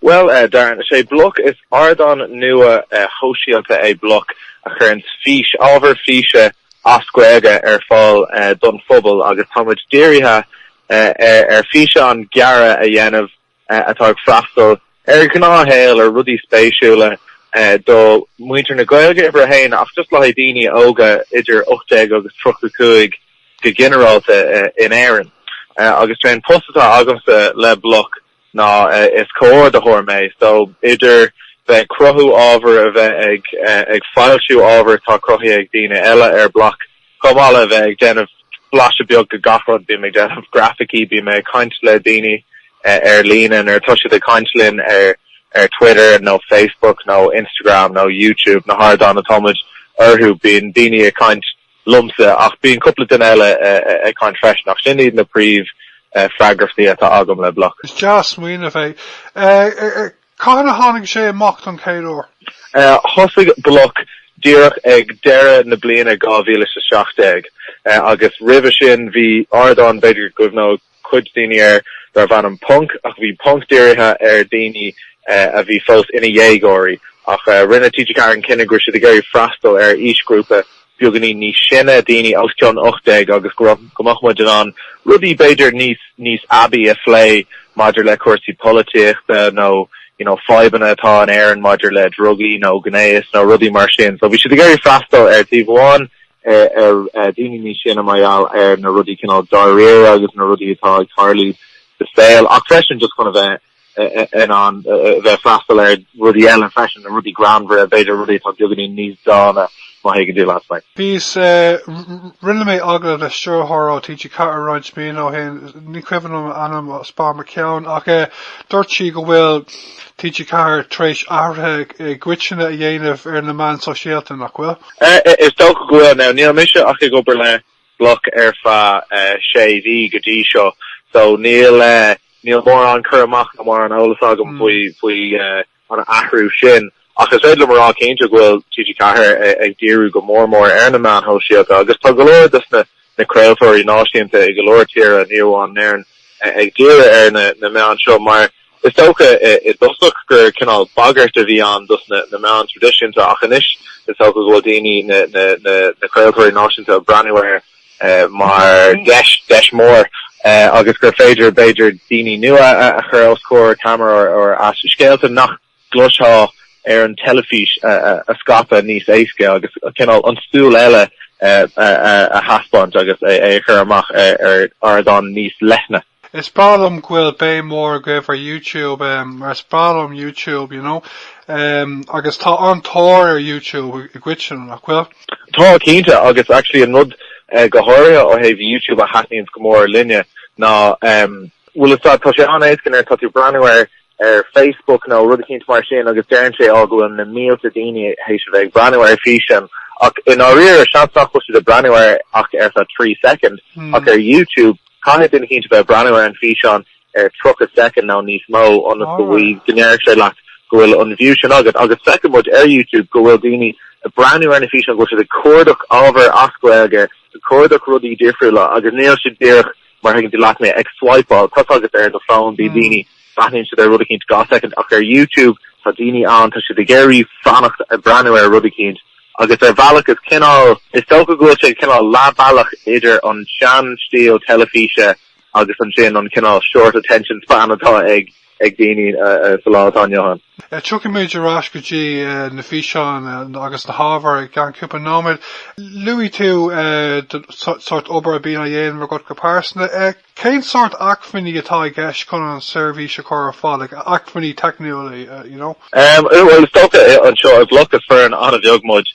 Bhuel, Darren, is é bloc is ardán nua shóisialta é bloc a chuireanns fís, ábhar físe trí Ghaeilge ar fáil don phobal agus tá muid dírithe ar físeáin ghearra a dhéanamh atá ag freastal ar ghnáthshaol, ar rudaí spéisiúla do mhuintir na Gaeilge, uimhir a haon, ach just le haghaidh daoine óga idir ocht déag agus tríocha cúig go ginearálta in Éirinn. Agus 'sé an post atá agamsa le bloc, ná is comhordaitheoir mé. So, idir bheith ag cruthú ábhair, a bheith ag ag foilsiú ábhair atá cruthaithe ag daoine eile ar bloc, chomh maith le bheith ag déanamh blaiseadh beag de gach rud, bím ag déanamh grafaicí, bím ag caint le daoine ar líne nuair atá siad ag caint linn ar ar Twitter nó Facebook nó Instagram nó YouTube, na hardáin atá muid orthu, bíonn daoine ag caint liomsa, ach bíonn cúpla duine eile ag caint freisin, ach sin iad na príomh-fhreagrachtaí atá agam le bloc. Is deas an smaoineamh é. Cathain a tháinig sé amach don chéad uair? Thosaigh bloc díreach ag deireadh na bliana 2017, agus roimhe sin bhí ardán, b'fhéidir go gcuimhneoidh cuid daoine air darbh ainm Ponc ach bhí Ponc dírithe ar dhaoine a bhí fós ina dhéagóirí ach rinne TG4 an cinneadh go raibh siad ag iarraidh freastal ar aoisghrúpa beagáinín níos sine, daoine os cionn 18 agus go mbeadh muid in ann rudaí b'fhéidir níos níos aibí a phlé maidir le cúrsaí polaitíochta nó you know fadhbanna atá in Éirinn maidir le drugaí nó gnéas nó rudaí mar sin so bhí siad ag iarraidh freastal ar taobh amháin ar dhaoine níos sine mar gheall ar na rudaí cineál dáiríre agus na rudaí atá ag tarlú sa saol ach freisin just chun a bheith in ann a bheith ag freastal ar rudaí eile freisin, na rudaí greannmhara, b'fhéidir rudaí atá beagáinín níos dána má thuigeann tú leat mé. Tuigim, is rinne mé agallamh le stiúrthóir ó TG4 roinnt míonna ó shin, ní cuimhin liom a ainm, is fear mo cheann, ach dúirt sí go bhfuil TG4 tar éis athruithe i gcoitinne a dhéanamh ar na meáin sóisialta, nach bhfuil? Is dócha go bhfuil. Now níl mise ach ag obair le bloc ar feadh sé mhí go dtí seo so níl níl mórán cur amach nó mórán eolas agam faoi faoi an athrú sin ach is féidir liom a rá cinnte go bhfuil TG4 ag díriú go mór mór ar na meáin shóisialta agus tá go leor dos na craoltóirí náisiúnta i go leor tíortha ní amháin in Éirinn ag díriú ar na na meáin seo mar Is dócha i dtosach gur cineál bagairt a bhí ann dos na meáin traidisiúnta ach anois is dócha go bhfuil daoine, na craoltóirí náisiúnta, ag breathnú air mar dheis, deis mhór agus gur féidir, b'fhéidir, daoine nua a chur os comhair ceamara ar ais scéalta nach gcloisfeá ar an teilifís a scaipeadh níos éasca agus cineál an 'tsúil eile' a thaispeáint agus é a chur amach ar ardán níos leithne. Is breá liom go bhfuil béim mhór agaibh ar YouTube em mar is breá liom YouTube you know em agus tá an-tóir ar YouTube i gcoitinne, nach bhfuil? Tá, cinnte, agus actually an rud go háirithe ó thaobh YouTube a thaitníonns go mór linne ná em bhuel is tá sé an-éasca nuair atá tú breathnú air ar Facebook nó rud eicínt mar sin agus deireann sé, Ó, go bhfuil na mílte daoine théis a bheith ag breathnú ar físeán ach i ndáiríre, seans nach bhfuil siad ag breathnú air ach ar feadh trí soicind, ach ar YouTube, caithfidh duine eicínt a bheith ag breathnú ar an físeán ar tríocha soicind nó níos mó ionas go bhfaighidh, go ndéarfaidh sé leat go bhfuil an view sin agat. Agus feiceann muid ar YouTube go bhfuil daoine ag breathnú ar na físeáin, go bhfuil siad ag cuardach ábhar as Gaeilge, ag cuardach rudaí difriúla agus níl siad díreach, mar thuigeann tú leat a bheith ag swaipeáil thart agus ar do fón bíonn daoine breathnaíonn siad ar rud eicínt dhá soicind ach ar YouTube tá daoine ann tá siad ag iarraidh fanacht ag breathnú ar rud eicínt agus ar bhealach is cineál is dócha go bhfuil sé cineál leathbhealach idir an sean stíl teilifíse agus ansin an cineál short attention span atá ag ag daoine sa lá atá inniu ann. Tiocfaimid ar ais go dtí na físeáin agus na hábhair i gceann cúpla nóiméad. Luaigh tú an sórt obair a bhíonn á dhéanamh agat go pearsanta. Cén sórt acmhainní atá i gceist chun an tseirbhís seo a chur ar fáil, acmhainní teicniúla, you know? Bhuel, is dócha anseo i mBloc is foireann an-bheag muid.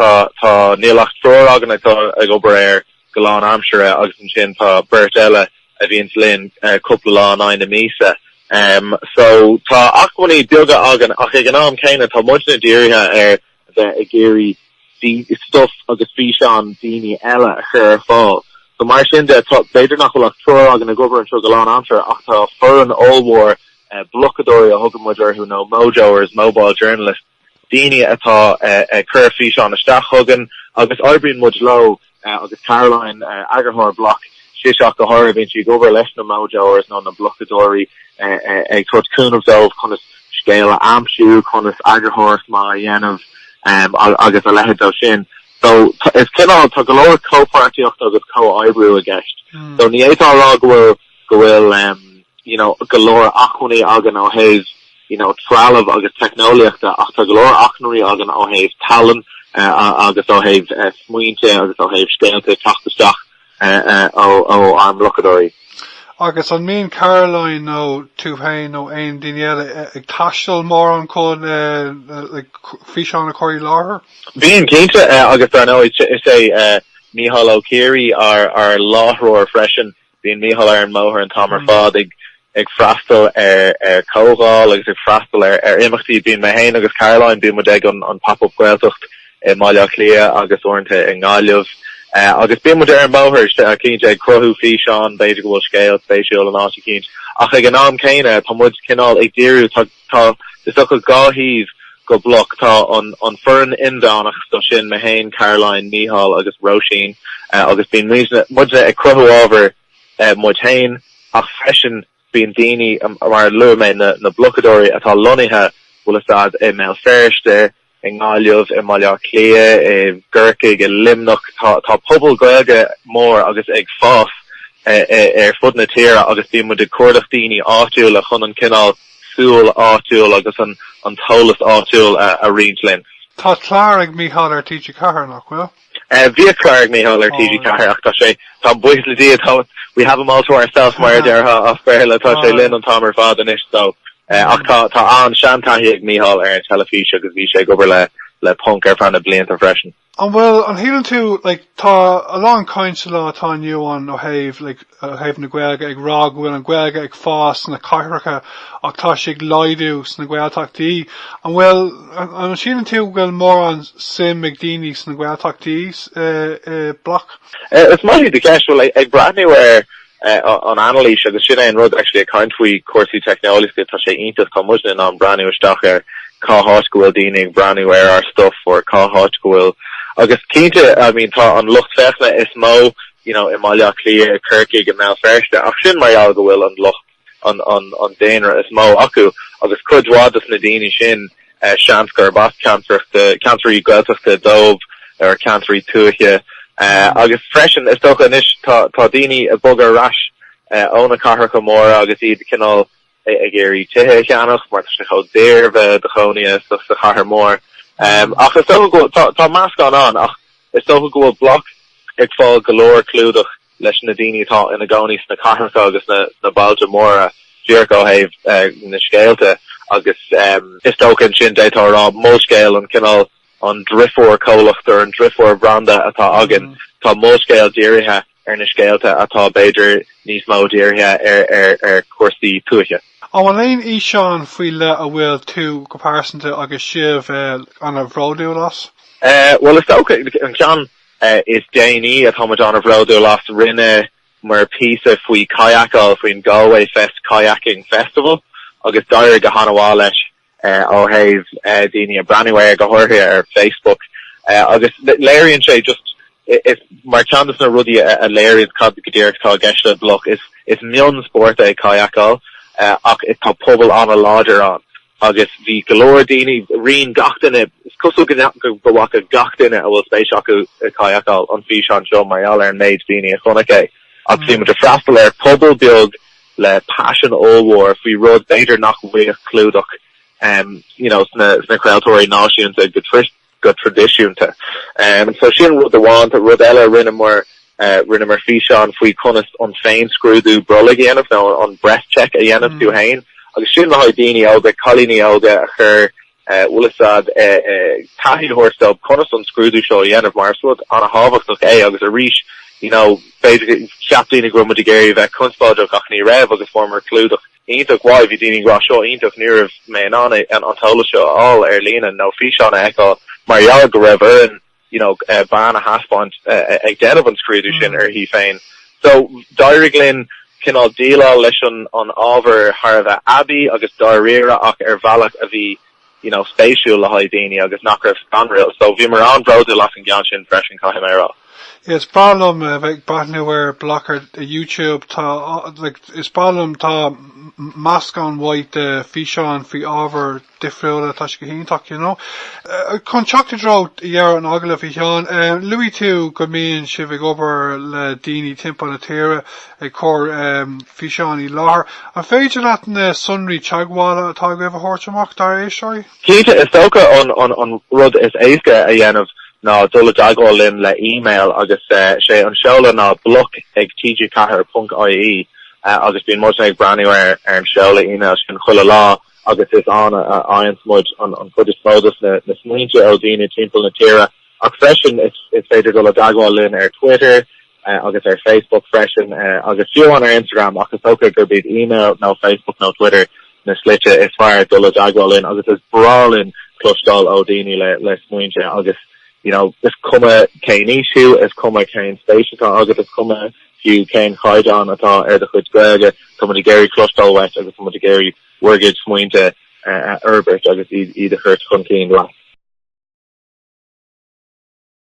Tá níl ach triúr againn ag obair ar go lán aimsire agus ansin tá beirt eile a bhíonns linn cúpla lá in aghaidh na míosa. So tá acmhainní beaga againn ach ag an am céanna tá muidne dírithe ar a bheith ag iarraidh stuif agus físeáin daoine eile a chur ar fáil. So mar sin de tá, b'fhéidir nach bhfuil ach triúr againn ag obair anseo go lán aimsire ach tá foireann ollmhór blocadóirí a thugann muid orthu nó mojoers, mobile journalists, daoine atá ag cur físeáin isteach chugainn agus oibríonn muid leo agus Caroline, eagarthóir Bloc, sise go háirithe. Bíonn sí ag obair leis na Mojoers nó na blocadóirí ag tabhairt cúnaimh dóibh conas scéal a aimsiú, conas eagarthóireacht mhaith a dhéanamh agus a leithéid de sin. So is cineál, tá go leor comhpháirtíochta agus comhoibriú i gceist. So ní fhéadfá a rá go bhfuil go bhfuil you know go leor acmhainní againn ó thaobh you know trealaimh agus teicneolaíochta ach tá go leor acmhainní againn ó thaobh tallann agus ó thaobh smaointe agus ó thaobh scéalta ag teacht isteach ó ár mblocadóirí. Agus an mbíonn Caroline nó tú féin nó aon daoine eile ag taisteal mórán chun like físeán a chur i láthair? Bíonn, cinnte, agus dar ndóigh is é Micheál Ó Ciaraidh ár láithreoir freisin. Bíonn Micheál ar an mbóthar an t-am ar fad ag freastal ar chomhdháil agus ag freastal ar imeachtaí. Bíonn mé féin agus Caroline, bíonn muid ag an Pop-Up Gaeltacht i mBaile Átha Cliath agus uaireanta i nGaillimh agus bíonn muid ar an mbóthar cinnte ag cruthú físeán, b'fhéidir go bhfuil scéal spéisiúil in áit eicínt ach ag an am céanna tá muid cineál ag díriú, tá. Tá, is dócha, dhá thaobh go bloc. Tá an foireann inmheánach so sin, mé féin, Caroline, Mícheál agus Róisín, agus bíonn muidne ag cruthú ábhair muid féin, ach freisin bíonn daoine, mar a luaigh mé, na blocadóirí atá lonnaithe, bhfuil a fhios agat i mBéal Feirste, i nGaillimh, i mBaile Átha Cliath, i gCorcaigh, i Luimneach, tá pobal Gaeilge mór agus ag fás ar fud na tíre agus bíonn muid ag cuardach daoine áitiúla chun an cineál súl áitiúil agus an t-eolas áitiúil a roinnt linn. Tá clár ag Mícheál ar TG4, nach bhfuil? Bhíodh clár ag Micheál ar TG4 ach tá sé, tá, buíochas le Dia, we have him all to ourself mar a déarfá as Béarla, tá sé linn an t-am ar fad anois so ach tá, tá seantaithí ag Micheál ar an teilifís agus bhí sé ag obair le, le Ponc ar feadh na blianta freisin. An bhfuil, an síleann tú, like, tá a lán caint sa lá atá inniu ann ó thaobh, like, ó thaobh na Gaeilge ag rá go bhfuil an Ghaeilge ag fás sna cathracha ach tá sí ag laghdú sna Gaeltachtaí. An bhfuil, an síleann tú go bhfuil mórán suim ag daoine sna Gaeltachtaí i mBloc? Is maith í do cheist. Bhuel, ag breathnú ar an anailís, agus sin é an rud actually a caint faoi chúrsaí teicneolaíochta, tá sé iontach tá muidne in ann breathnú isteach ar cá háit go bhfuil daoine ag breathnú ar ár stuff or cá háit go bhfuil, agus cinnte, I mean, tá an lucht féachana is mó you know, i mBaile Átha Cliath, i gCorcaigh, i mBéal Feirste, ach sin mar gheall go bhfuil an lucht, an, an daonra is mó acu agus cuid mhaith de na daoine sin, eh, seans gurb as ceantracha, ceantair Ghaeltachta dóibh, or ceantair tuaithe, eh, agus freisin, is dócha anois, tá, tá daoine ag bogadh ar ais, eh, ó na cathracha móra agus iad cineál ag iarraidh tithe a cheannach mar tá sé chomh daor bheith i do chónaí sa chathair mhór. Ach is dócha go bhfuil, tá meascán ann ach is dócha go bhfuil Bloc ag fáil go leor clúdach leis na daoine atá ina gcónaí sna cathracha agus sna bailte móra díreach ó thaobh na scéalta agus is dócha ansin d'fhéadfá a rá Molscéal an cineál an deirfiúr-chomhlacht nó an deirfiúr-bhranda atá againn. Tá Molscéal dírithe. ar na scéalta atá b'fhéidir níos mó dírithe ar chúrsaí tuaithe. An bhfuil aon fhíseán faoi leith a bhfuil tú go pearsanta agus sibh an-bhródúil as? Bhuel is dócha an ceann is déanaí atá muid an-bhródúil as, rinne muid píosa faoi kayakáil faoin Galway Fest Kayaking Festival agus d'éirigh go han-mhaith leis. ó thaobh daoine a breathnú air go háirithe ar Facebook agus léiríonn sé just mar cheann de na rudaí a léiríonn cad go díreach atá i gceist le BLOC is is mionspórt é kayakáil ach is tá pobal an-láidir ann agus bhí go leor daoine roinn gach duine is cosúil go go bhfaca gach duine a bhfuil spéis acu i kayakáil an físeán seo mar gheall ar an méid daoine a chonaic é ach bhí muid ag freastal ar pobal beag le paisean ollmhór faoi rud b'fhéidir nach bhfaigheadh clúdach you know sna sna craoltóirí náisiúnta go go traidisiúnta. So sin rud amháin. Tá rud eile a rinneamar, rinneamar físeán faoi conas an féinscrúdú brollaigh a dhéanamh nó an breast check a dhéanamh tú féin agus sin le haghaidh daoine óga, cailíní óga a chur bhfuil fhios a'd, taithí a thabhairt dóibh conas an scrúdú seo a dhéanamh mar is rud an-tábhachtach é agus arís you know b'fhéidir gur cheap daoine go raibh muid ag iarraidh a bheith conspóideach ach ní raibh agus fuaireamar clúdach iontach maith, bhí daoine ag rá seo iontach ní raibh mé in ann an t-eolas seo a fháil ar líne nó físeán a fheiceáil mar gheall go raibh orainn you know, bean a thaispeáint ag déanamh an scrúdú sin uirthi féin. So, d'éirigh linn cineál déileáil leis an ábhar thar a bheith aibí agus dáiríre ach ar bhealach a bhí, you know, spéisiúil le haghaidh daoine agus nach raibh scanrúil. So, bhíomar an-bhródúil as an gceann sin freisin, caithfidh mé a rá. Is breá liom a bheith ag breathnú ar BLOC ar YouTube. Tá, like, is breá liom, tá meascán maith de físeáin faoi ábhar difriúla tá sé go hiontach you know. Chun teacht i dtreo dheireadh an agallaimh a Sheáin, luaigh tú go mbíonn sibh ag obair le daoine timpeall na tíre ag cur físeáin i láthair. An féidir leat na sonraí teagmhála atá agaibh a thabhairt amach dár éisteoirí? Cinnte, is dócha an rud is éasca a dhéanamh ná dul i dteagmháil linn le email agus sé an seoladh ná bloc ag tg4.ie agus bíonn muid ag breathnú ar an seoladh email sin chuile lá agus is ann a fhaigheanns muid an chuid is mó de na smaointe ó daoine timpeall na tíre ach freisin is féidir dul i dteagmháil linn ar Twitter agus ar Facebook freisin agus fiú amháin ar Instagram ach is dócha gurb iad email nó Facebook nó Twitter na slite is fearr dul i dteagmháil linn agus is breá linn cloisteáil ó daoine le le smaointe agus you know is cuma cén aois thú is cuma cén spéis atá agat is cuma fiú cén chaighdeán atá ar do chuid Gaeilge, tá muid ag iarraidh cloisteáil uait agus tá muid ag iarraidh bhur gcuid smaointe a fhorbairt agus iad a thabhairt chun cinn leat.